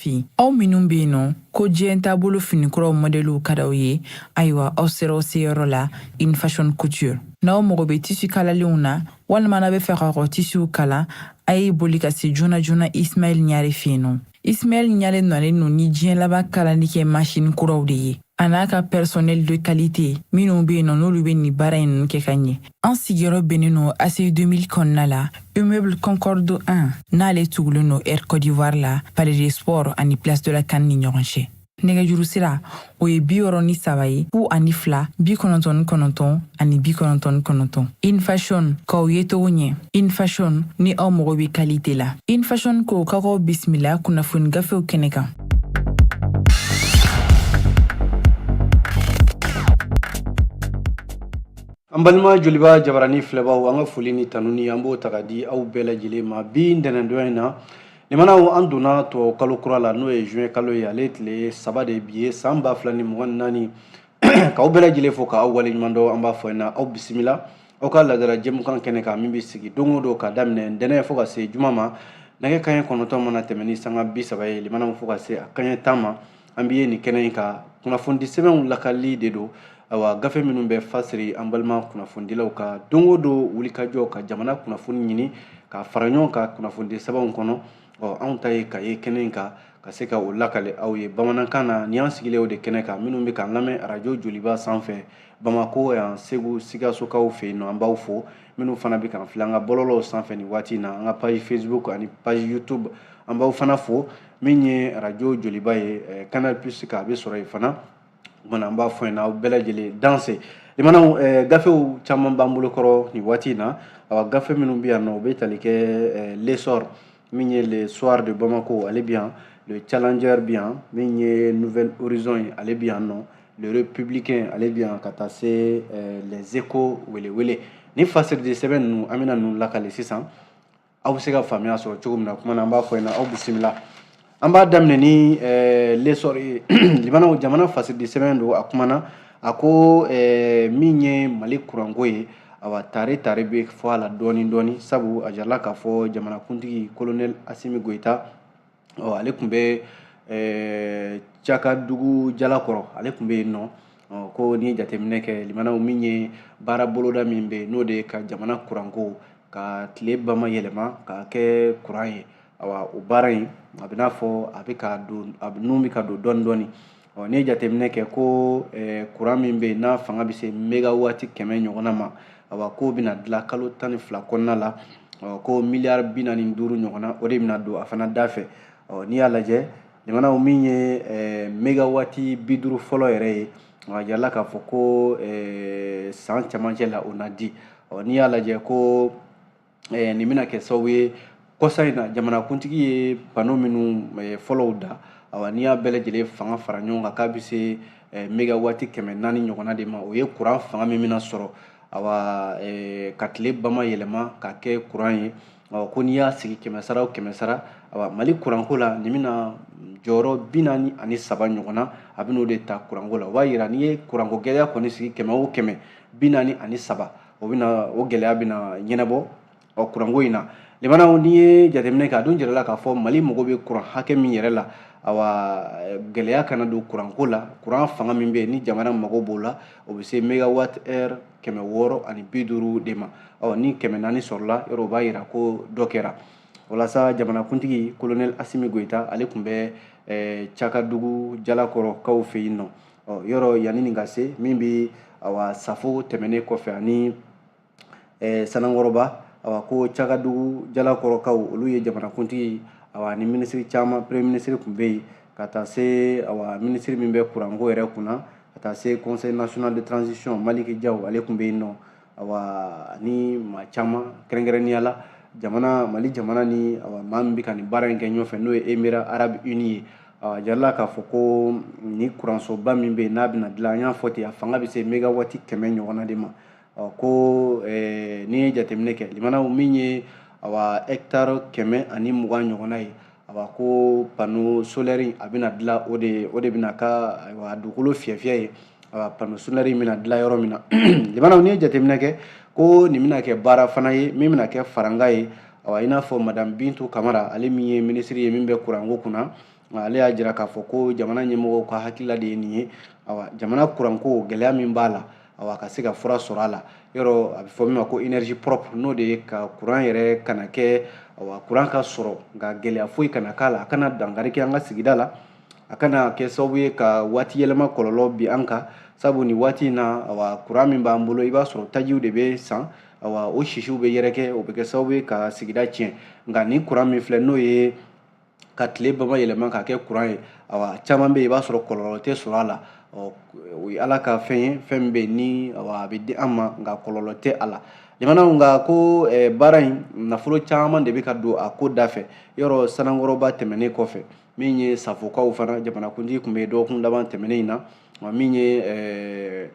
fin aw minnu bɛ yen nɔ ko diɲɛ taabolo finikuraw mɔdɛliw ka d'aw ye ayiwa aw sera aw seyɔrɔ la in fashion couture n'aw mago bɛ tisi kalalenw na walima n'aw b'a fɛ ka kɔ tisiw kala a ye boli ka se joona joona ismaɛl ɲare fɛ yen nɔ ismaɛl ɲare nalen don ni diɲɛ laban kalali kɛ masini kuraw de ye a n'a ka pɛrisɔnɛli de kalite minnu bɛ yen nɔ n'olu bɛ nin baara ninnu kɛ ka ɲɛ An sigiyɔrɔ bɛnnen don ACI 2000 kɔnɔna la, immeuble Concorde 1, n'ale tugulen don Air Côte d'Ivoire la, Palais des Sports ani Place de la CAN ni ɲɔgɔn cɛ. Nɛgɛjuru sira, o ye bi wɔɔrɔ ni saba ye, fu ani fila, bi kɔnɔntɔn ni kɔnɔntɔn ani bi kɔnɔntɔn ni kɔnɔntɔn. Infashion, k'aw yecogo ɲɛ. Infashion, ni aw mago bɛ kalite la. Infashion ko k'aw k'aw bisimila kunnafoni gafew kɛnɛ kan. an balima joliba jabarani filɛbaw an ka foli ni tanuni an b'o ta ka di aw bɛɛ lajɛlen ma bi ntɛnɛndonya in na limanaw an donna tubabu kalo kura la n'o ye juin kalo ye ale tile saba de bi ye san ba fila ni mugan ni naani k'aw bɛɛ lajɛlen fo k'aw waleɲuman dɔn an b'a fɔ na aw bisimila aw ka ladala jɛmukan kɛnɛ kan min bɛ sigi don o don ka daminɛ ntɛnɛn fo ka se juma ma nɛgɛ kaɲɛ kɔnɔntɔn mana tɛmɛ ni sanga bi saba ye limanaw fo ka se a kaɲɛ tan ma an bɛ yen nin kɛnɛ in kan kunnafoni sɛbɛnw lakali de don awa gafe minnu bɛ fasiri an balima kunnafonidilaw ka don o don wulikajɔ ka jamana kunnafoni ɲini ka fara ɲɔgɔn kan kunnafoni sɛbɛnw kɔnɔ ɔ anw ta ye ka ye kɛnɛ in kan ka se ka o lakale aw ye bamanankan na ni an sigilen o de kɛnɛ kan minnu bɛ k'an lamɛn arajo joliba sanfɛ bamako yan segu sikasokaw fɛ yen nɔ an b'aw fo minnu fana bɛ k'an filɛ an ka bɔlɔlɔw sanfɛ nin waati in na an ka page facebook ani page youtube an b'aw fana fo min ye arajo joliba ye canal plus kan a bɛ sɔrɔ yen fana o kumana an b'a fɔ yen na aw bɛɛ lajɛlen danse limanaw eh, gafew caman b'an bolo kɔrɔ nin waati in na awa gafe minnu bɛ yan nɔ u bɛ tali kɛ eh, l'essor min ye le soir de bamako ale bɛ yan le challenger bɛ yan min ye nouvel horizon ye ale bɛ yan nɔ le républicain ale bɛ yan ka taa se eh, les échos welewele nin fasiridi sɛbɛn ninnu an bɛna ninnu lakale sisan aw bɛ se ka faamuya sɔrɔ cogo min na kuma na an b'a fɔ yen na aw bisimila an b'a daminɛ ni eh, l'essor ye limanaw jamana fasiridi sɛbɛn don a kumana a ko eh, min ye mali kuranko ye awa tare tare bɛ fɔ a la dɔɔni dɔɔni sabu a jirala k'a fɔ jamanakuntigi kolonɛli asimi goyita ɔ ale tun bɛ ɛɛ cakadugu jalakɔrɔ ale tun bɛ yen nɔ ko n'i ye jateminɛ kɛ limanaw min ye baara boloda min bɛ yen n'o de ye ka jamana kuranko ka tile bama yɛlɛma ka kɛ kuran ye awa o baara in a bɛ n'a fɔ a bɛ ka don a n'u bɛ ka don dɔɔni dɔɔni ɔ n'i ye jateminɛ kɛ ko eh, kuran min bɛ yen n'a fanga bɛ se megawaati kɛmɛ ɲɔgɔnna ma awa k'o bɛna dilan kalo tan ni fila kɔnɔna la ɔ ko miliyari bi naani ni duuru ɲɔgɔnna o de bɛna don a fana da fɛ ɔ n'i y'a lajɛ lamɛnnaw min ye eh, megawaati bi duuru fɔlɔ yɛrɛ ye a jirala k'a fɔ ko eh, san camancɛ la o na di ɔ n'i y'a lajɛ ko eh, nin bɛna kɛ sababu ye kɔsa in na jamanakuntigi ye pano minnu eh, fɔlɔw da awa n'i y'a bɛɛ lajɛlen fanga fara ɲɔgɔn kan k'a bɛ se eh, megawati kɛmɛ naani ɲɔgɔnna de ma o ye kuran fanga min bɛna sɔrɔ awa eh, ka tile bama yɛlɛma ka kɛ kuran ye awa ko n'i y'a sigi kɛmɛ sara o kɛmɛ sara awa mali kuranko la nin bɛna jɔyɔrɔ bi naani ani saba ɲɔgɔnna a bɛn'o de ta kuranko la o b'a yira n'i ye kuranko gɛlɛya kɔni sigi kɛmɛ o kɛmɛ bi naani ani saba o bɛna o gɛlɛya bɛna ɲɛnabɔ ɔ kuranko in na lamɛnnaw n'i ye jateminɛ kɛ a dun jirala k'a fɔ mali mago bɛ kuran hakɛ min yɛrɛ la awa gɛlɛya kana don kuranko la kuran fanga min bɛ yen ni jamana mago b'o la o bɛ se megawatt heure kɛmɛ wɔɔrɔ ani bi duuru de ma ɔ ni kɛmɛ naani sɔrɔla yɔrɔ o b'a yira ko dɔ kɛra walasa jamanakuntigi kolonɛli asimi goyita ale tun bɛ cakadugu jalakɔrɔkaw fɛ yen nɔ ɔ yɔrɔ yanni nin ka se min bɛ awa safo tɛmɛnen kɔfɛ ani eh, sanankɔrɔba awa ko cakadugu jalakɔrɔkaw olu ye jamanakuntigi awa ni minisiri caman premier minisiri tun bɛ yen ka taa se awa minisiri min bɛ kuranko yɛrɛ kunna ka taa se conseil national de transition maliki jaw ale tun bɛ yen nɔ awa ani maa caman kɛrɛnkɛrɛnnenya la jamana mali jamana ni awa maa min bɛ ka nin baara in kɛ ɲɔgɔn fɛ n'o ye emira arabe uni ye awa jirala k'a fɔ ko nin kuransoba min bɛ yen n'a bɛna dilan an y'a fɔ ten a fanga bɛ se megawati kɛmɛ ɲɔgɔnna de ma ko eh, n'i ye jateminɛ kɛ lamɛnnaw min ye awa hɛkitari kɛmɛ ani mugan ɲɔgɔnna ye awa ko pano solɛri a bɛna dilan o de o de bɛna kɛ ayiwa dugukolo fiyɛfiyɛ ye panneau solaire in bɛna dilan yɔrɔ min na lamɛnnaw n'i ye jateminɛ kɛ ko nin bɛna kɛ baara fana ye min bɛna kɛ farankan ye awa i n'a fɔ madame bintu kamara ale min ye minisiri ye min bɛ kuranko kunna ale y'a jira k'a fɔ ko jamana ɲɛmɔgɔw ka hakilila de ye nin ye awa jamana kuranko gɛlɛya min b'a la awa ka se ka fura sɔrɔ a la yɔrɔ a bɛ fɔ min ma ko énergie propre n'o de ye ka kuran yɛrɛ kana kɛ awa kuran ka sɔrɔ nka gɛlɛya foyi kana k'a la a kana dankari kɛ an ka sigida la a kana kɛ sababu ye ka waati yɛlɛma kɔlɔlɔ bin an kan sabu nin waati in na awa kuran min b'an bolo i b'a sɔrɔ tajiw de bɛ san awa o sisiw bɛ yɛrɛkɛ o bɛ kɛ sababu ye ka sigida tiɲɛ nka nin kuran min filɛ n'o ye ka tile bama yɛlɛma ka kɛ kuran ye awa caman bɛ yen i b'a sɔrɔ kɔlɔlɔ tɛ sɔrɔ a la o ye ala ka fɛn ye fɛn min bɛ yen ni awa a bɛ di an ma nka kɔlɔlɔ tɛ a la lamɛnnaw nka ko baara in nafolo caman de bɛ ka don a ko da fɛ yɔrɔ sanankɔrɔba tɛmɛnen kɔfɛ min ye safokaw fana jamanakuntigi tun bɛ dɔgɔkun laban tɛmɛnen in na wa min ye eh,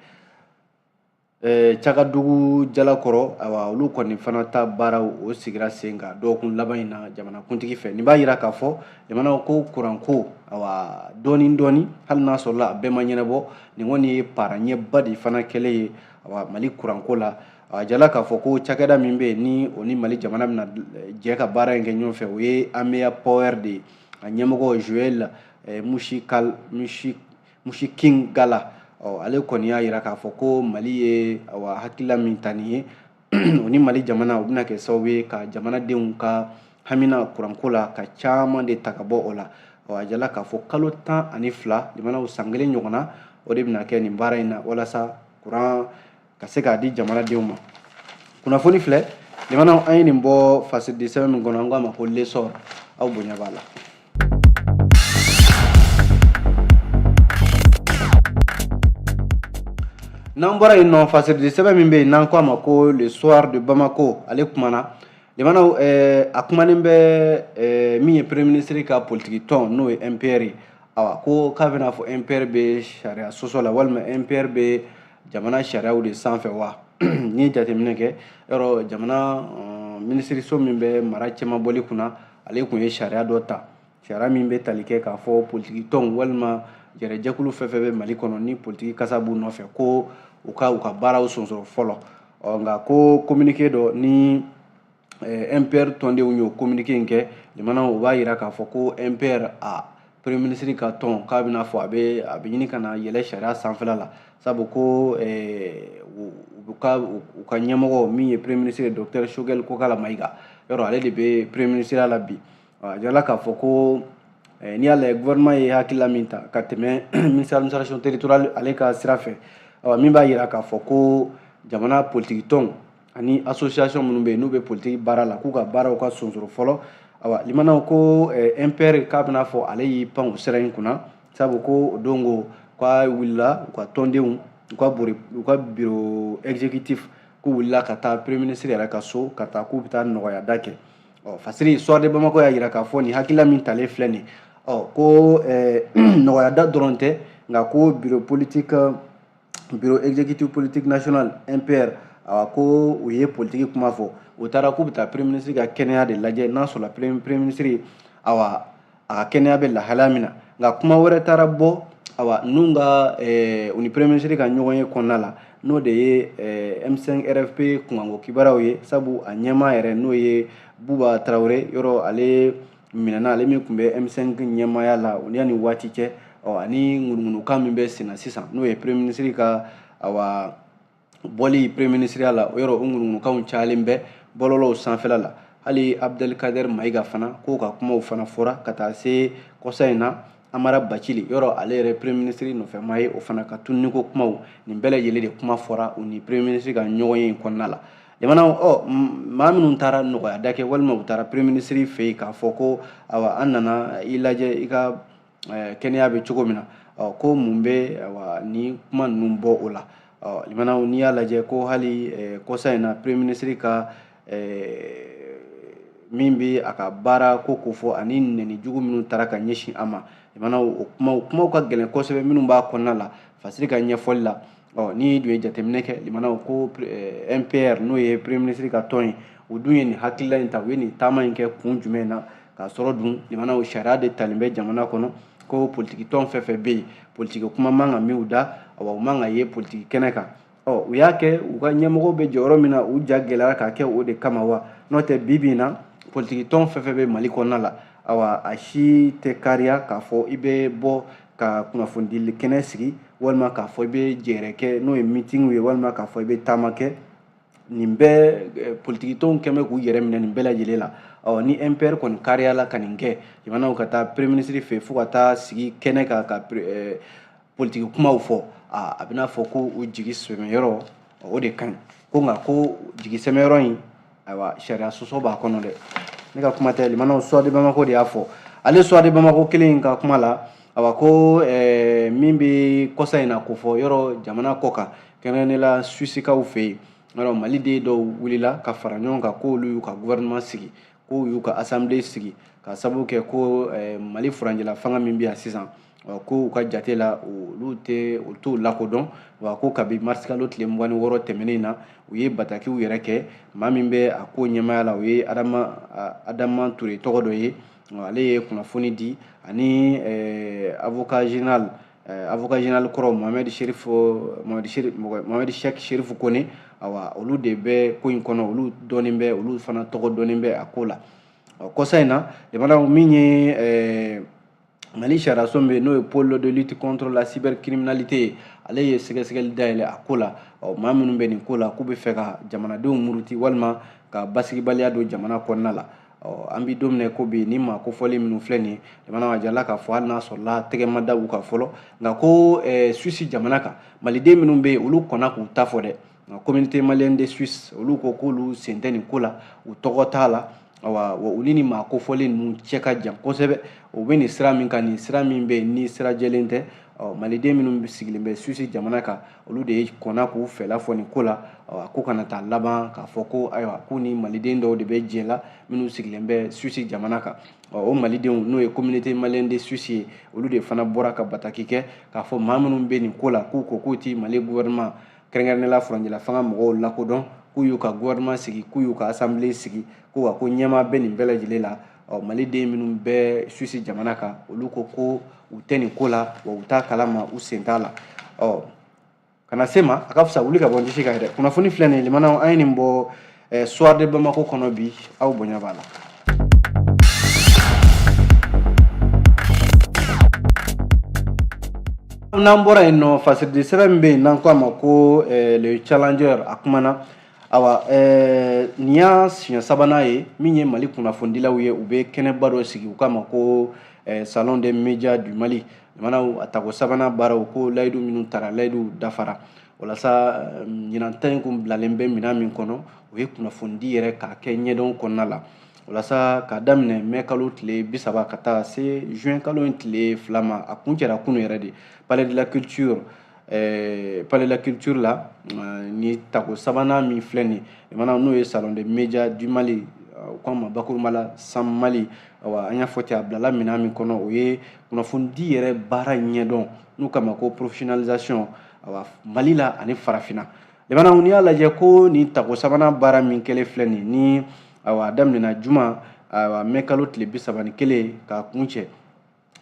eh, cakadugu jalakɔrɔ awa olu kɔni fana ta baaraw o sigira sen kan dɔgɔkun laban in na jamanakuntigi fɛ nin b'a jira k'a fɔ jamana ko kuranko awa dɔɔni dɔɔni hali n'a sɔrɔla a bɛɛ ma ɲɛnabɔ nin kɔni ye baara ɲɛba de fana kɛlen ye awa mali kuranko la a jirala k'a fɔ ko cakɛda min bɛ yen ni o ni mali jamana bɛna eh, jɛ ka baara in kɛ ɲɔgɔn fɛ o ye amea power de ye a ɲɛmɔgɔ joel eh, mushikal mushi musikingala ɔ ale kɔni y'a jira k'a fɔ ko mali ye awa hakilila min ta nin ye o ni mali jamana o bɛna kɛ sababu ye ka jamanadenw ka hamina kuranko la ka caman de ta ka bɔ o la ɔ a jirala k'a fɔ kalo tan ani fila jamanaw san kelen ɲɔgɔnna o de bɛna kɛ nin baara in na walasa kuran ka se k'a di jamanadenw ma kunnafoni filɛ jamanaw an ye nin bɔ fasiri sɛbɛn min kɔnɔ an k'a ma ko l'essor aw bonya b'a la n'an bɔra yen nɔ fasiri sɛbɛn min bɛ yen n'an k'a ma ko le soir de bamako ale kumana jamanaw eh, a kumanen bɛ eh, min ye premier ministre ka politiki tɔn n'o ye mpr ye awa ko k'a bɛna fɔ mpr bɛ sariya sɔsɔ la walima mpr bɛ jamana sariyaw de sanfɛ wa n'i ye jateminɛ kɛ yɔrɔ jamana eh, minisiriso min bɛ mara cɛmabɔli kunna ale tun ye sariya dɔ ta sariya min bɛ tali kɛ k'a fɔ politiki tɔnw walima jɛrɛjɛkulu fɛn fɛn bɛ mali kɔnɔ ni politiki kasa b'u nɔfɛ ko u ka u ka baaraw sonsoro fɔlɔ ɔ nka ko kominike dɔ ni eh, mpr tɔndenw y'o communiqué in kɛ jamana o b'a yira k'a fɔ ko mpr a premier ministre ka tɔn k'a bɛna fɔ a bɛ a bɛ ɲini ka na yɛlɛ sariya sanfɛla la sabu ko eh, u ka u ka ɲɛmɔgɔ min ye premier ministre docteur Choguel Kokalla Maïga yɔrɔ ale de bɛ premier ministreya la bi a jirala k'a fɔ ko eh, n'i y'a lajɛ gouvernement ye hakilila min ta ka tɛmɛ ministre administration territoriale ale ka sira fɛ min b'a yira k'a fɔ ko jamana politiki tɔnw ani association minnu bɛ yen n'u bɛ politiki baara la k'u ka baaraw ka sonsoro fɔlɔ awa limanaw ko eh, mpr k'a bɛna fɔ ale y'i pan o sariya in kunna sabu ko o don ko k'a wulila u ka tɔndenw u ka bori u ka biro exécutif k'u wulila ka taa premier ministre yɛrɛ ka so ka taa k'u bɛ taa nɔgɔyada kɛ ɔ fasiri soir de bamako y'a jira k'a fɔ nin hakilila min talen filɛ nin ɔ ko eh, nɔgɔyada dɔrɔn tɛ nka ko biro politique biro exécutif politique national mpr awa ko u ye politiki kuma fɔ u taara k'u bɛ taa premier ministre ka kɛnɛya de lajɛ n'a sɔrɔla premier ministre awa a ka kɛnɛya bɛ lahalaya min na nka kuma wɛrɛ taara bɔ awa n'u ka eh, u ni premier ministre ka ɲɔgɔnye kɔnɔna la n'o de ye eh, m5 rfp kunkanko kibaruyaw ye sabu a ɲɛmaa yɛrɛ n'o ye buba tarawele yɔrɔ ale minɛna ale min tun bɛ M5 ɲɛmaaya la o ni yanni waati cɛ ɔ ani ŋunuŋunukan min bɛ senna sisan n'o ye premier ministre ka awa bɔli premier ministreya la o yɔrɔ o ŋunuŋunukanw cayalen bɛ bɔlɔlɔw sanfɛla la hali abdelkader mayiga fana k'o ka kumaw fana fɔra ka taa se kɔsa in na amara bacili yɔrɔ ale yɛrɛ premier ministre nɔfɛmaa ye o fana ka tunniko kumaw nin bɛɛ lajɛlen de kuma fɔra u ni premier ministre ka ɲɔgɔnye in kɔnɔna la lamɛnnaw ɔ maa minnu taara nɔgɔyada kɛ walima u taara premier ministre fɛ yen k'a fɔ ko awa an nana i lajɛ i ka eh, kɛnɛya bɛ cogo min na ɔ ko mun bɛ awa ni kuma ninnu bɔ o la ɔ lamɛnnaw n'i y'a lajɛ ko hali eh, kɔsa in na premier ministre ka min bɛ a ka baara ko kofɔ ani nɛni jugu minnu taara ka ɲɛsin a ma lamɛnnaw o kumaw ka gɛlɛn kosɛbɛ minnu b'a kɔnɔna la fasiri ka ɲɛfɔli la ɔ n'i dun ye jateminɛ kɛ lamɛnnaw ko mpr n'o ye premier ministre ka tɔn ye u dun ye nin hakilila in ta u ye nin taama in kɛ kun jumɛn na k'a sɔrɔ dun lamɛnnaw sariya de talen bɛ jamana kɔnɔ ko politikitɔn fɛn fɛn bɛ yen politiki kuma man ka mɛn u da awa u man ka ye politiki kɛnɛ kan ɔ u y'a kɛ u ka ɲɛmɔgɔ bɛ jɔyɔrɔ min na u ja gɛlɛyara k'a kɛ o de kama wa n'o tɛ bi bi in na politikitɔn fɛn fɛn bɛ mali kɔnɔna la awa a si tɛ kariya k'a fɔ i bɛ bɔ ka kunnafonidi kɛnɛ sigi walima k'a fɔ i bɛ jɛɛrɛ kɛ n'o ye mitigiw ye walima k'a fɔ i bɛ taama kɛ nin bɛɛ politikitɔnw kɔni bɛ k'u yɛrɛ minɛ nin bɛɛ lajɛlen la ɔ ni mpr kɔni kariyala ka nin kɛ lamɛnnaw ka taa premier ministre fɛ fo ka taa sigi kɛnɛ kan ka politiki kumaw fɔ aa a bɛna fɔ ko u jigi sɛmɛyɔrɔ o de ka ɲi ko nka ko jigi sɛmɛyɔrɔ in ayiwa sariya sɔsɔ b'a kɔnɔ dɛ ne ka kuma tɛ lamɛnnaw soir de bamako de y'a fɔ ale soir de bamako kelen in ka kuma la awa ko eh, min bɛ kɔsa in na ko fɔ yɔrɔ jamana kɔ kan kɛrɛnkɛrɛnnenya la suwisikaw fɛ yen yɔrɔ maliden dɔw wulila ka fara ɲɔgɔn kan k'olu y'u ka gouvernement sigi k'u y'u ka assemblée sigi ka sababu kɛ ko eh, mali furancɛla fanga min bɛ yan sisan ko u ka jate la olu tɛ u t'u lakodɔn wa ko kabi marisikalo tile mugan ni wɔɔrɔ tɛmɛnen na u ye batakiw yɛrɛkɛ maa min bɛ a ko ɲɛmaaya la o ye adama ture tɔgɔ dɔ ye ale ye kunnafoni di ani eh, avocat général eh, avocat général kɔrɔ mohamed cheick chérif koné awa olu de bɛ ko in kɔnɔ olu dɔnnen bɛ olu fana tɔgɔ dɔnnen bɛ a ko la kɔsa in na lamɛnnaw min ye eh, mali sariyaso bɛ n'o ye pôle de lutte contre la cybercriminalité ye ale ye sɛgɛsɛgɛli dayɛlɛ a ko la ɔ maa minnu bɛ nin ko la k'u bɛ fɛ ka jamanadenw muruti walima ka basigibaliya don jamana kɔnɔna la ɔ an bɛ don min na ko bi ni maa kofɔlen minnu filɛ nin ye jamana a jirala k'a fɔ hali n'a sɔrɔla tɛgɛ ma da u kan fɔlɔ nka ko eh, suisi jamana kan maliden minnu bɛ yen olu kɔnna k'u ta fɔ dɛ nka communauté malienne de suisse olu ko k'olu sen tɛ nin ko la u tɔgɔ t'a la awa wa olu ni maa kofɔlen ninnu cɛ ka jan kosɛbɛ u bɛ nin sira min kan nin sira min bɛ yen ni sira jɛlen tɛ ɔ maliden minnu sigilen bɛ suisi jamana kan olu de ye kɔnna k'u fɛla fɔ nin ko la a ko kana taa laban k'a fɔ ko ayiwa ko ni maliden dɔw de bɛ jɛ la minnu sigilen bɛ suisi jamana kan o malidenw n'o ye communauté malienne de suisse ye olu de fana bɔra ka bataki kɛ k'a fɔ maa minnu bɛ nin ko la k'u ko k'u tɛ mali gouvernement kɛrɛnkɛrɛnnenya la furancɛla fanga mɔgɔw lakodɔn k'u y'u ka gouvernement sigi k'u y'u ka assemblée sigi ko wa ko ɲɛmaa bɛ nin bɛɛ lajɛlen la ɔ maliden minnu bɛ suisi jamana kan olu ko ko u tɛ nin ko la wa u t'a kala ma u sen t'a la ɔ kana se ma a ka fisa wuli ka bɔ n disi kan yɛrɛ kunnafoni filɛ nin lamɛnnaw an ye nin bɔ eh, soir de bamako kɔnɔ bi aw bonya b'a la n'an bɔra yen nɔ fasiridi sɛbɛn min bɛ yen n'an ko a ma ko eh, le challenger a kumana awa eh, nin y'a siɲɛ sabanan ye min ye mali kunnafonidilaw ye u bɛ kɛnɛba dɔ sigi u k'a ma ko eh, salon des médias du mali jamanaw a tako sabanan baaraw ko layidu minnu tara layiduw dafara walasa ɲinan ta in kun bilalen bɛ minan min kɔnɔ o ye kunnafonidi yɛrɛ k'a kɛ ɲɛdɔn kɔnɔna la walasa k'a daminɛ mɛ kalo tile bi saba ka taa se juin kalo in tile fila ma a kuncɛra kunu yɛrɛ de palais de la culture eh, palais de la culture la eh, ni tako sabanan min filɛ nin ye lamɛnnaw n'o ye salon des médias du mali u k'a ma bakurunba la sam mali awa an y'a fɔ ten a bilala minɛn min kɔnɔ o ye kunnafonidi yɛrɛ baara ɲɛdɔn n'u k'a ma ko professionnalisation awa mali la ani farafinna lamɛnnaw n'i y'a lajɛ ko nin tako sabanan baara min kɛlen filɛ nin ni awa a daminɛna juma awa mɛ kalo tile bi saba ni kelen k'a kuncɛ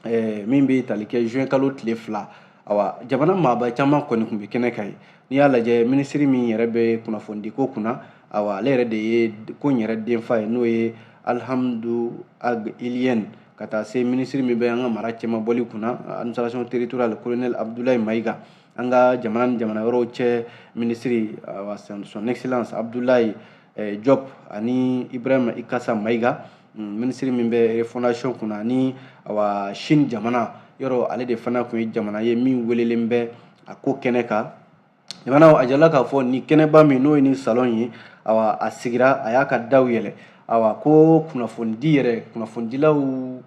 eh, min bɛ tali kɛ juin kalo tile fila awa jamana maaba caman kɔni tun bɛ kɛnɛ kan yen n'i y'a lajɛ minisiri min yɛrɛ bɛ kunnafonidiko kunna awa ale yɛrɛ de ye ko in yɛrɛ denfa ye n'o ye alhamdu ag iliyɛn ka taa se minisiri min bɛ an ka mara cɛmabɔli kunna administration territoriale colonel abudulayi mayiga an ka jamana ni jamana wɛrɛw cɛ minisiri awa son excellence abudulayi eh, diop ani ibrahima ikasa maiga mm, minisiri min bɛ refondation kunna ani awa chine jamana yɛrɛ ale de fana tun ye jamana ye min welelen bɛ a ko kɛnɛ kan jamana a jirala k'a fɔ ni kɛnɛba min n'o ye ni salon ye awa a sigira a y'a ka daw yɛlɛ awa ko kunnafonidi yɛrɛ kunnafonidilaw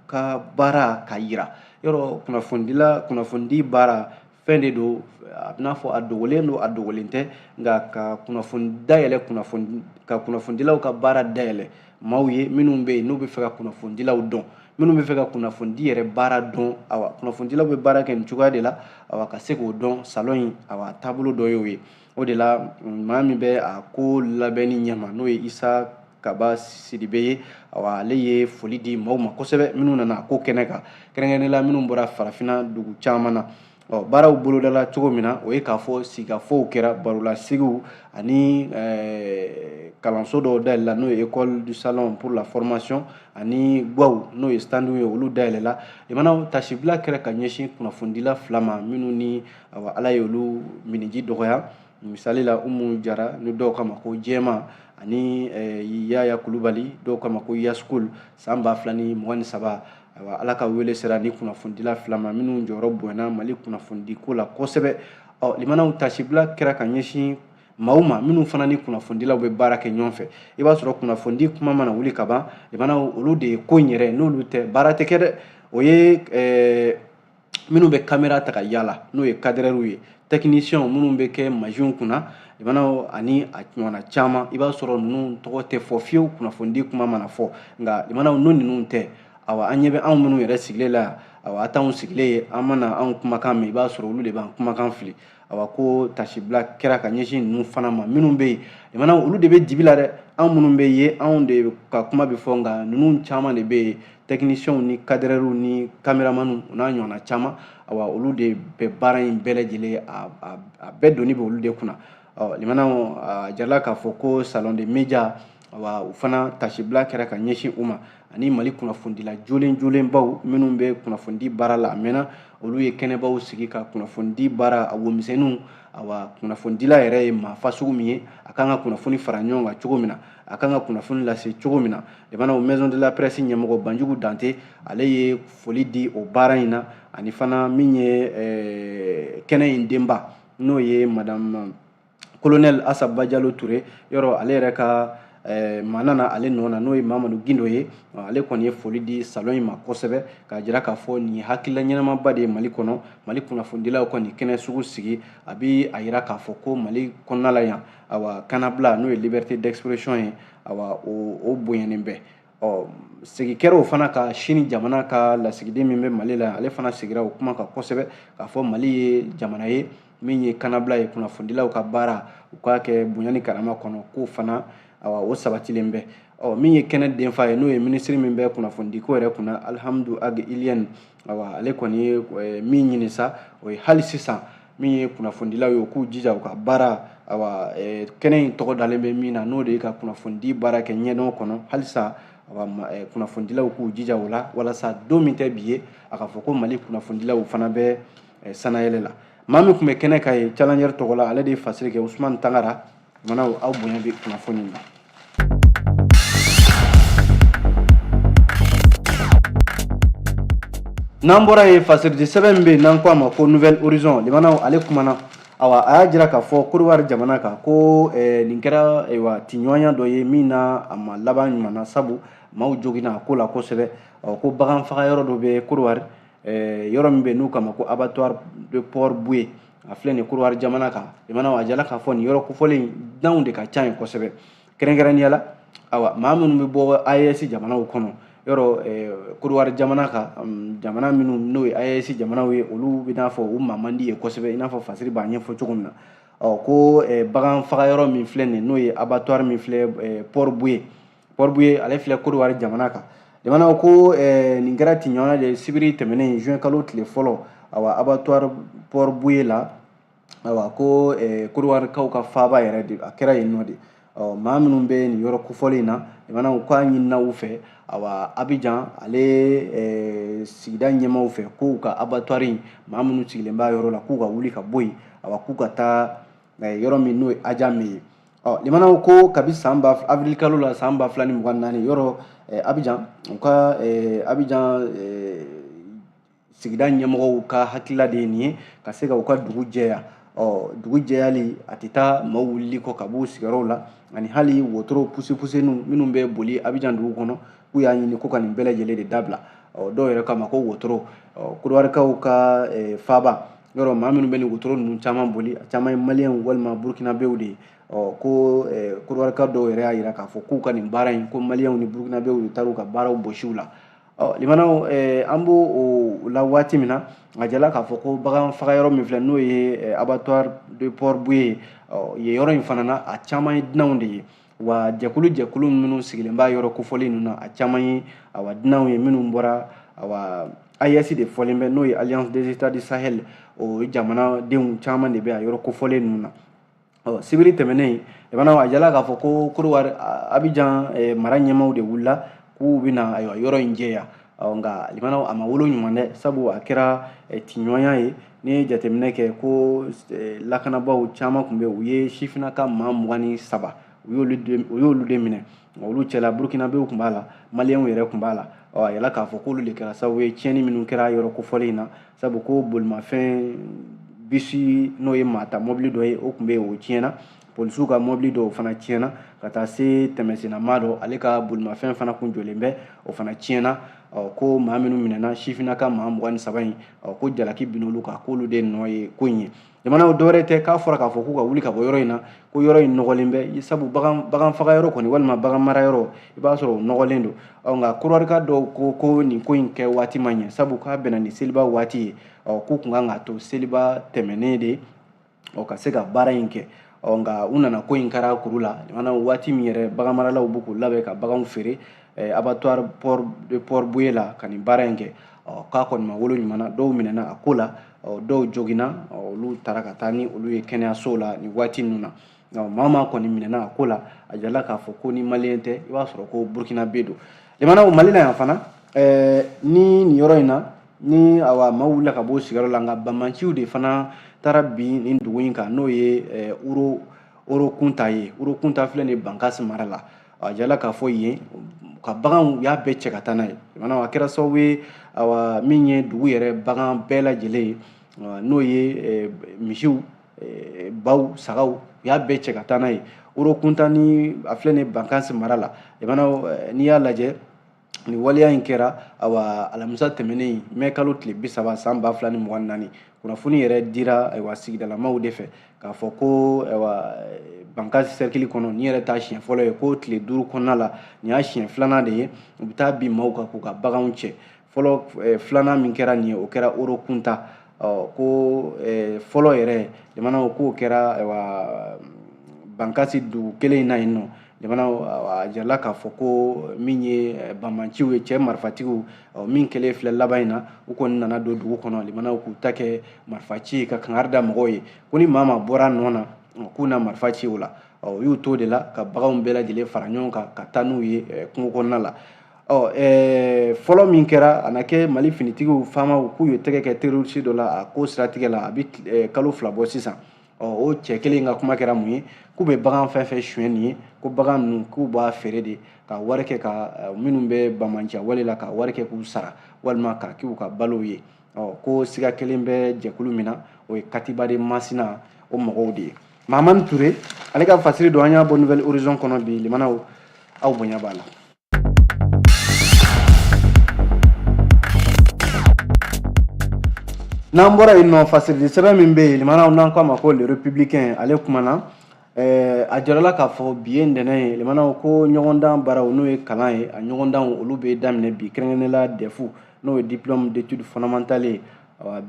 ka baara ka yira yɔrɔ kunnafonidi baara fɛn de don a b'i n'a fɔ a dogolen don a dogolen tɛ nka ka kunnafoni dayɛlɛ ka kunnafonidilaw ka baara dayɛlɛ maaw ye minnu bɛ yen n'u bɛ fɛ ka kunnafonidilaw dɔn minnu bɛ fɛ ka kunnafonidi yɛrɛ baara dɔn awa kunnafonidilaw bɛ baara kɛ nin cogoya de la awa ka se k'o dɔn salon in awa taabolo dɔ y'o ye o de la maa min bɛ a ko labɛnni ɲɛma n'o ye isa kaba sidibe ye awa ale ye foli di maaw ma kosɛbɛ minnu nana a ko kɛnɛ kan kɛrɛnkɛrɛnnen la minnu bɔra farafinna dugu caman na ɔ baaraw bolodala cogo min na o ye k'a fɔ sigikafɔw kɛra barolasigiw ani eh, kalanso dɔw dayɛlɛla n'o ye école du salon pour la formation ani gwaw n'o ye standiw ye olu dayɛlɛla lamɛnnaw taasibila kɛra ka ɲɛsin kunnafonidila fila ma minnu ni awa ala ye olu minniji dɔgɔya misali la umu jara ni dɔw k'a ma ko jɛma ani eh, yaya kulubali dɔw k'a ma ko yaskul san ba fila ni mugan ni saba awa ala ka wele sera nin kunnafonidila fila ma minnu jɔyɔrɔ bonyana mali kunnafonidi ko la kosɛbɛ ɔ lamɛnnaw taasibila kɛra ka ɲɛsin maaw ma minnu fana ni kunnafonidilaw bɛ baara kɛ ɲɔgɔn fɛ i b'a sɔrɔ kunnafonidi kuma mana wuli ka ban lamɛnnaw olu de ye ko in yɛrɛ n'olu tɛ baara tɛ kɛ dɛ o ye eh, minnu bɛ kamera ta ka yaala n'o ye kadɛrɛriw ye tɛkinisiyɛnw minnu bɛ kɛ masinw kunna lamɛnnaw ani a ɲɔgɔnna caman i b'a sɔrɔ ninnu tɔgɔ tɛ fɔ fiyewu kunnafonidi kuma mana fɔ nka lamɛnnaw n'o ninnu tɛ awa a ɲɛ bɛ anw minnu yɛrɛ sigilen la yan awa a t'anw sigilen ye a mana anw kumakan mɛn i b'a sɔrɔ olu de b'an kumakan fili awa ko taasibila kɛra ka ɲɛsin ninnu fana ma minnu bɛ yen lamɛnnaw olu de bɛ dibi la dɛ an minnu bɛ ye anw de ka kuma bɛ fɔ nka ninnu caman de bɛ yen tɛkinisiyɛnw ni kadɛrɛriw ni kameramaniw o n'a ɲɔgɔnna caman awa olu de bɛ baara in bɛɛ lajɛlen a bɛɛ doni bɛ olu de kunna ɔ lamɛnnaw a jirala k'a fɔ ko salon de media wa u fana taasibila kɛra ka ɲɛsin u ma ani mali kunnafonidila jolen jolenbaw minnu bɛ kunnafonidi baara la a mɛnna olu ye kɛnɛbaw sigi ka kunnafonidi baara a womisɛnninw awa kunnafonidila yɛrɛ ye maa fasugu min ye a kan ka kunnafoni fara ɲɔgɔn kan cogo min na a kan ka kunnafoni lase cogo min na lamɛnnaw o maison de la presse ɲɛmɔgɔ banjugu dante ale ye foli di o baara in na ani fana min ye eh, kɛnɛ in denba n'o ye madame kolonɛli asa bajalo ture yɔrɔ ale yɛrɛ ka Eh, maa nana ale nɔ na n'o ye mamadu gindo ye ale kɔni ye foli di salon in ma kosɛbɛ k'a jira k'a fɔ nin ye hakilila ɲɛnamaba de ye mali kɔnɔ mali kunnafonidilaw ka nin kɛnɛ sugu sigi a bi a jira k'a fɔ ko mali kɔnɔna la yan awa kanabila n'o ye liberté d'expression ye awa o o bonyanen bɛ ɔ segi kɛra o fana kan sini jamana ka lasigiden min bɛ mali la ale fana segira o kuma kan kosɛbɛ k'a fɔ mali ye jamana ye min ye kanabila ye kunnafonidilaw ka baara u k'a kɛ bonya ni karama kɔnɔ k'o fana awa o sabatilen bɛ ɔ min ye kɛnɛ denfa ye n'o ye minisiri min bɛ kunnafonidiko yɛrɛ kunna alihamudu ag iliyɛni awa ale kɔni ye eh, min ɲini sa o ye hali sisan min ye kunnafonidilaw ye u k'u jija u ka baara awa eh, kɛnɛ in tɔgɔ dalen bɛ min na n'o de ye ka kunnafonidi baara kɛ ɲɛdɔn kɔnɔ halisa awa eh, kunnafonidilaw k'u jija o la walasa don min tɛ bi ye a ka fɔ ko mali kunnafonidilaw fana bɛ sanayɛlɛ la maa min tun bɛ kɛnɛ kan yen Challenger tɔgɔ la ale de ye fasiri kɛ usumani tangara Mana aw bonya bɛ kunnafoni na n'an bɔra yen fasiridi sɛbɛn min bɛ n'an ko a ma ko Nouvel Horizon lamɛnnaw ale kumana awa a y'a jira k'a fɔ korowari jamana kan ko eh, nin kɛra ayiwa tiɲɔgɔnya dɔ ye min na a ma laban ɲuman na sabu maaw joginna a ko la kosɛbɛ ɔ ko bagan faga yɔrɔ dɔ bɛ korowari eh, yɔrɔ min bɛ n'u k'a ma ko abattoir de Port-Bouët a filɛ nin korowari jamana kan lamɛnnaw a jala k'a fɔ nin yɔrɔ kofɔlen dunanw de ka ca yen kosɛbɛ kɛrɛnkɛrɛnnenya la awa maa minnu bɛ bɔ AES jamanaw kɔnɔ yɔrɔ eh, korowari jamana kan mm, jamana minnu n'o ye AES jamanaw ye olu bɛ i n'a fɔ u maa man di yen kosɛbɛ i n'a fɔ fasiri b'a ɲɛfɔ cogo min na ɔ ko eh, bagan faga yɔrɔ min filɛ nin n'o ye abattoir min filɛ eh, Port-Bouët Port-Bouët ale filɛ kodowari jamana kan lamɛnnaw ko eh, nin kɛra tiɲɔgɔnya de sibiri tɛmɛnen juin kalo tile fɔlɔ awa abattoir Port-Bouët la awa ko eh, kodowari-kaw ka faaba yɛrɛ de a kɛra yen nɔ de ɔ maa minnu bɛ nin yɔrɔ kofɔlen in na lamɛnnaw ko k'a ɲinina u fɛ awa abijan ale eh, sigida ɲɛmaaw fɛ k'u ka abattoir in maa minnu sigilen b'a yɔrɔ la k'u ka wuli ka bɔ yen awa k'u ka taa eh, yɔrɔ min n'o ye Adjamé ye ɔ lamɛnnaw ko kabi avril kalo la san ba fila ni mugan naani yɔrɔ eh, abijan u ka eh, abijan eh, sigida ɲɛmɔgɔw ka hakilila de ye nin ye ka se ka u ka dugu jɛya ɔ dugu jɛyali a tɛ taa maaw wulili kɔ ka b'u sigiyɔrɔw la ani hali wotoro pusepuseniw minnu bɛ boli abijan dugu kɔnɔ k'u y'a ɲini ko ka nin bɛɛ lajɛlen de dabila ɔ dɔw yɛrɛ k'a ma ko wotoro ɔ kodowarikaw ka eh, faaba yɔrɔ maa minnu bɛ nin wotoro ninnu caman boli a caman ye maliyɛnw walima burukinabew de ye ɔ ko kodowarika dɔw yɛrɛ y'a jira k'a fɔ k'u ka nin baara in ko maliyɛnw ni burukinabew de taar'u ka baaraw bɔsi u la ɔ lamɛnnaw an b'o la waati min na a jala k'a fɔ ko bagan faga yɔrɔ min filɛ n'o ye abattoir de Port-Bouët ye ɔ yen yɔrɔ in fana na a caman ye dunanw de ye wa jɛkulu jɛkulu minnu sigilen b'a yɔrɔ kofɔlen ninnu na a caman ye awa dunanw ye minnu bɔra awa AES de fɔlen bɛ n'o ye Alliance des États du Sahel o jamanadenw caman de bɛ a yɔrɔ kofɔlen ninnu na ɔ sibiri tɛmɛnen lamɛnnaw a jala k'a fɔ ko Kodowari Abijan mara ɲɛmaaw de wulila k'u bɛna ayiwa yɔrɔ in jɛya ɔ nka limanaw a ma wolo ɲuman dɛ sabu a kɛra eh, tiɲɔgɔnya ye n'i ye jateminɛ kɛ ko eh, lakanabaaw caman tun bɛ u ye sifinaka maa mugan ni saba u y'olu de minɛ olu cɛla burukinabew tun b'a la maliyɛnw yɛrɛ tun b'a la ɔ a yirala k'a fɔ k'olu de kɛra sababu ye tiɲɛni minnu kɛra yɔrɔ kofɔlen in na sabu ko bolimafɛn bisi n'o ye maa ta mɔbili dɔ ye o tun bɛ yen o tiɲɛna polisiw ka mɔbili dɔw fana tiɲɛna ka taa se tɛmɛsennamaa dɔ ale ka bolimafɛn fana kun jɔlen bɛ o fana tiɲɛna ko maa minnu minɛna sifinnaka maa mugan ni saba in ko jalaki bin'olu kan k'olu de nɔ ye ko in ye jamanaw dɔwɛrɛ tɛ k'a fɔra k'a fɔ k'u ka wuli ka bɔ yɔrɔ in na ko yɔrɔ in nɔgɔlen bɛ sabu bagan faga yɔrɔ kɔni walima bagan mara yɔrɔ i b'a sɔrɔ o nɔgɔlen don nka korɔrika dɔw ko ko nin ko in kɛ waati ma ɲɛ sabu k'a bɛnna ni seliba waati ye k'u kun kan k'a to seliba tɛmɛnen de ɔ ka se ka baara in kɛ ɔ nka u nana ko in kɛra kuru la mana waati min yɛrɛ baganmaralaw b'u k'u labɛn ka baganw feere eh, abattoir port de port-bouët la ka nin baara in kɛ ɔ k'a kɔni ma wolo ɲuman na dɔw minɛna a ko la ɔ dɔw joginna ɔ olu taara ka taa ni olu ye kɛnɛyasow la nin waati ninnu na nka maa maa kɔni minɛna a ko la a jirala k'a fɔ ko ni maliyɛn tɛ i b'a sɔrɔ ko burukinabe don jamanaw mali la yan fana eh, ni nin yɔrɔ in na ni awa maaw wulila ka bɔ sigiyɔrɔ la nka banbaanciw de fana taara bin nin dugu in kan n'o ye eh, oro oro kunta ye oro kunta filɛ nin bankasi mara la a jirala k'a fɔ yen ka baganw u y'a bɛɛ cɛ ka taa n'a ye a kɛra sababu ye awa min ye dugu yɛrɛ bagan bɛɛ lajɛlen ye n'o ye eh, misiw eh, baw sagaw u y'a bɛɛ cɛ ka taa n'a ye oro kunta ni a filɛ nin bankasi mara la n'i y'a lajɛ nin waleya in kɛra awa alamisa tɛmɛnen mɛ kalo tile bi saba san ba fila ni mugan ni naani kunnafoni yɛrɛ dira ayiwa sigidalamaw de fɛ k'a fɔ ko ayiwa bankasi sɛrikili kɔnɔ nin yɛrɛ t'a siɲɛ fɔlɔ ye ko tile duuru kɔnɔna la nin y'a siɲɛ filanan de ye u bɛ taa bin maaw kan k'u ka baganw cɛ fɔlɔ filanan min kɛra nin ye o kɛra oro kunta ɔ ko fɔlɔ yɛrɛ jamanaw k'o kɛra bankasi dugu kelen in na yen nɔ jamanaw a jirala k'a fɔ ko min ye banbaanciw ye cɛ marifatigiw min kɛlen filɛ laban in na u kɔni nana don dugu kɔnɔ limanaw k'u ta kɛ marifa ci ka kangari da mɔgɔw ye ko ni maa maa bɔra nɔ na k'u na marifa ci o la u y'u to o de la ka baganw bɛɛ lajɛlen fara ɲɔgɔn kan ka taa n'u ye kungo kɔnɔna la ɔ ɛɛ fɔlɔ min kɛra a na kɛ mali finitigiw fama k'u ye tɛgɛ kɛ terroriste dɔ la a ko siratigɛ la a bɛ eh, kalo fila bɔ sisan ɔ o cɛ kelen ka kuma kɛra mun ye k'u bɛ bagan fɛn fɛn suɲɛ nin ye ko bagan ninnu k'u b'a feere de k'a wari kɛ ka eh, minnu bɛ banbaanciya wale la k'a wari kɛ k'u sara walima k'a k'u ka balow ye ɔ ko siga kelen bɛ jɛkulu min na o ye katiba de masina o mɔgɔw de ye mahamani ture ale ka fasiri don an y'a bɔ nouvel horizon kɔnɔ bi limanaw aw bonya b'a la n'an bɔra yen nɔ fasirili sɛbɛn min bɛ yen lamɛnnaw n'an k'a ma ko le républicain ale kumana eh, a jirala k'a fɔ bi ye ntɛnɛn ye lamɛnnaw ko ɲɔgɔndan baaraw n'o ye kalan ye a ɲɔgɔndanw olu bɛ daminɛ bi kɛrɛnkɛrɛnnenya dɛfu n'o ye diplôme d'études fondamentales ye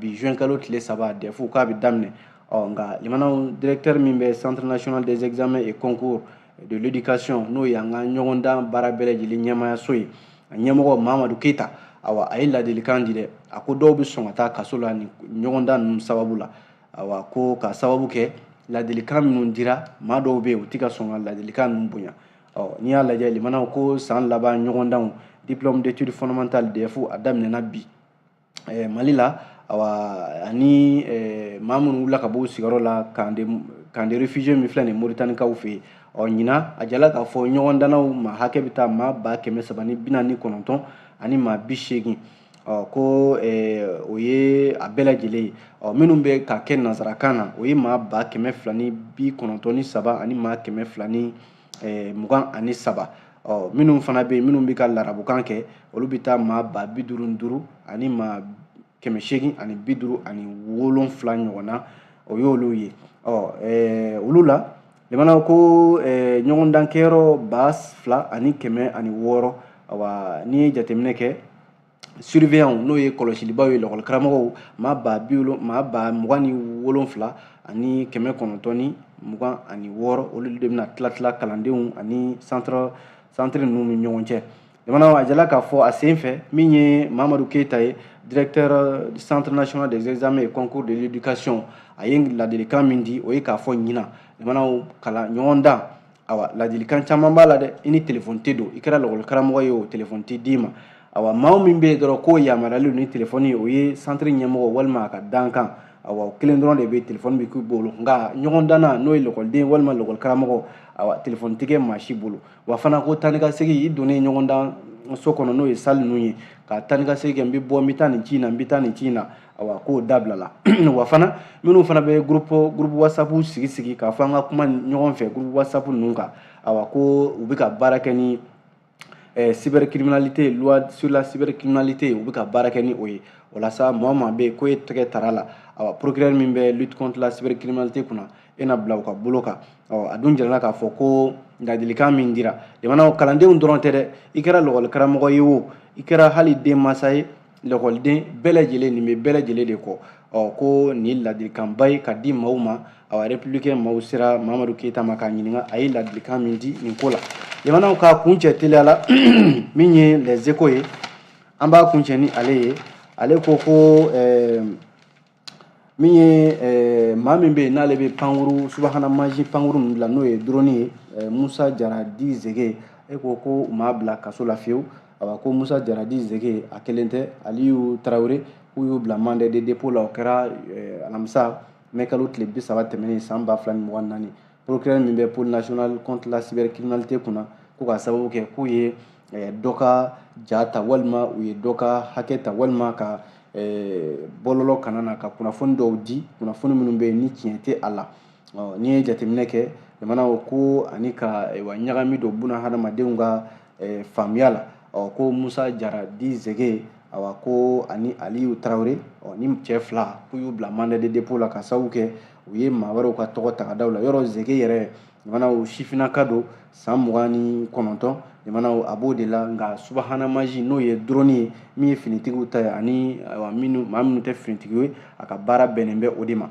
bi juin kalo tile saba dɛfu k'a bɛ daminɛ ɔ nka lamɛnnaw directeur min bɛ centre national des examens et concours de l'éducation n'o ye an ka ɲɔgɔndan baara bɛɛ lajɛlen ɲɛmaayaso ye a ɲɛmɔgɔ mahamadu keyita awa a ye ladilikan di dɛ a ko dɔw bɛ sɔn ka taa kaso la nin ɲɔgɔndan ninnu sababu la awa ko ka sababu kɛ ladilikan minnu dira maa dɔw bɛ yen u tɛ ka sɔn ka ladilikan ninnu bonya ɔ n'i y'a lajɛ lamɛnnaw ko san laban ɲɔgɔndanw diplôme d'études fondamentales dɛfu a daminɛna bi eh, mali la awa ani eh, maa minnu wulila ka bɔ u sigiyɔrɔ la camp de camp de réfugiés min filɛ nin moritanikaw fɛ yen ɔ ɲinan a jirala k'a fɔ ɲɔgɔndannaw maa hakɛ bɛ taa maa ba kɛmɛ saba ni bi naani ni kɔnɔntɔn ani maa bi seegin ɔ ko o ye a bɛɛ lajɛlen ye ɔ minnu bɛ k'a kɛ nansarakan na o ye maa ba kɛmɛ fila ni bi kɔnɔntɔn ni saba ani maa kɛmɛ fila ni eh, mugan ani saba ɔ minnu fana bɛ yen minnu bɛ ka larabukan kɛ olu bɛ taa maa ba bi duuru ni duuru ani maa kɛmɛ seegin ani bi duuru ani wolonfila ɲɔgɔn na o y'olu ye ɔ eh, olu la lamɛnnaw ko eh, ɲɔgɔndankɛyɔrɔ ba fila ani kɛmɛ ani wɔɔrɔ awa n'i ye jateminɛ kɛ surveillant n'o ye kɔlɔsilibaaw ye lakɔli karamɔgɔw maa ba bi maa ba mugan ni wolonfila ani kɛmɛ kɔnɔntɔn ni mugan ani wɔɔrɔ olu de bɛna tila tila kalandenw ani centre centre ninnu ni ɲɔgɔn cɛ jamana a jirala k'a fɔ a sen fɛ min ye mahamadu keyita ye directeur du centre national des examens et concours de l'éducation a ye ladilikan min di o ye k'a fɔ ɲinan jamana kalan ɲɔgɔndan awa ladilikan caman b'a la dɛ i ni telefɔni tɛ don i kɛra lakɔli karamɔgɔ ye o telefɔni tɛ d'i ma awa maa min bɛ yen dɔrɔn k'o yamaruyalen ni telefɔni ye o ye santiri ɲɛmɔgɔ walima a ka dankan awa o kelen dɔrɔn de bɛ telefɔni bɛ k'u bolo nka ɲɔgɔndanna n'o ye lakɔliden walima lakɔli karamɔgɔ awa telefɔni tɛ kɛ maa si bolo wa fana ko taa ni ka segin i donnen ɲɔgɔndanso kɔnɔ n'o ye sali ninnu ye ka taa ni ka segin kɛ n bɛ bɔ n bɛ taa nin ci in na n bɛ taa nin ci in na awa k'o dabila la wa fana minnu fana bɛ groupe groupe whatsapp sigi sigi k'a fɔ an ka kuma ɲɔgɔn fɛ groupe whatsapp ninnu kan awa ko u bɛ ka baara kɛ ni eh, cybercriminalité loi sur la cybercriminalité u bɛ ka baara kɛ ni o ye o la sa maa o maa bɛ yen ko e tɛgɛ tara la awa procureur min bɛ lutte contre la cybercriminalité kunna e na bila u ka bolo kan awa a dun jirala k'a fɔ ko ladilikan min dira jamana kalandenw dɔrɔn tɛ dɛ i kɛra lakɔli karamɔgɔ ye o i kɛra hali denmansa ye lakɔliden bɛɛ lajɛlen nin bɛ bɛɛ lajɛlen de kɔ ɔ ko nin ladilikanba ye ka di maaw ma awa républicain maaw sera mamadu keyita ma k'a ɲininka a ye ladilikan min di nin ko la jamanaw k'a kuncɛ teliya la min ye les échos ye an b'a kuncɛ ni ale ye ale ko ko ɛɛ min ye eh, maa min bɛ yen n'ale bɛ pankuru subahana mansin pankuru ninnu dilan n'o ye duroni ye eh, musa jara dit zege échos ko u m'a bila kaso la fiyewu awa ko musa jara dit zege a kelen tɛ aliyu tarawele k'u y'u bila mandat de dépôt la o kɛra eh, alamisa mɛkalo tile bi saba tɛmɛnen san ba fila ni mugan naani procureur min bɛ pôle national contre la cybercriminalité kunna ko k'a sababu kɛ k'u ye eh, dɔ ka ja ta walima u ye dɔ ka hakɛ ta walima ka eh, bɔlɔlɔ kanna na ka kunnafoni dɔw di kunnafoni minnu bɛ yen ni tiɲɛ tɛ a la n'i ye jateminɛ kɛ jamanaw ko ani ka eh, wa ɲagami don buna hadamadenw ka faamuya la ɔ ko musa jara dit zege awa ko ani aliyu tarawele ɔ nin cɛ fila k'u y'u bila mandat de dépôt la k'a sababu kɛ u ye maa wɛrɛw ka tɔgɔ ta ka da u la yɔrɔ zege yɛrɛ jamanaw si bɛ na ka don san mugan ni kɔnɔntɔn jamanaw a b'o de la nka subahana mansin n'o ye drɔni ye min ye finitigiw ta ye ani maa minnu tɛ finitigi ye a ka baara bɛnnen bɛ o de ma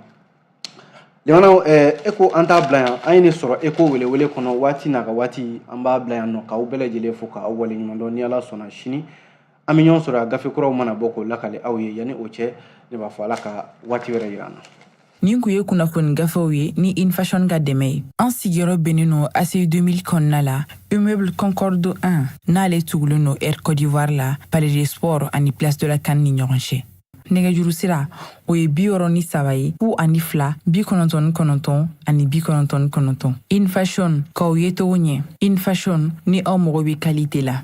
jamanaw échos an t'a bila yan an ye nin sɔrɔ échos welewele kɔnɔ waati n'a ka waati an b'a bila yan nɔ k'aw bɛɛ lajɛlen fo k'aw waleɲumandɔn ni ala sɔnna sini an bɛ ɲɔgɔn sɔrɔ a gafe kuraw mana bɔ k'o lakali aw ye yanni o cɛ ne b'a fɔ ala ka waati wɛrɛ yira an na nin kun ye kunnafoni gafew ye ni in fashion ka dɛmɛ ye an sigiyɔrɔ bɛnnen no aci 2000 kɔnɔna la immeuble concorde 1 n'ale tugulen no air côte d'ivoire la palais des sports ani place de la can ni ɲɔgɔn cɛ nɛgɛjuru sira o ye bi wɔrɔ ni saba ye fu ani fila bi kɔnɔntɔn ni kɔnɔntɔn ani bi kɔnɔntɔn ni kɔnɔntɔn in fashion k'aw ye togo ɲɛ in fashion ni aw mago bɛ kalite la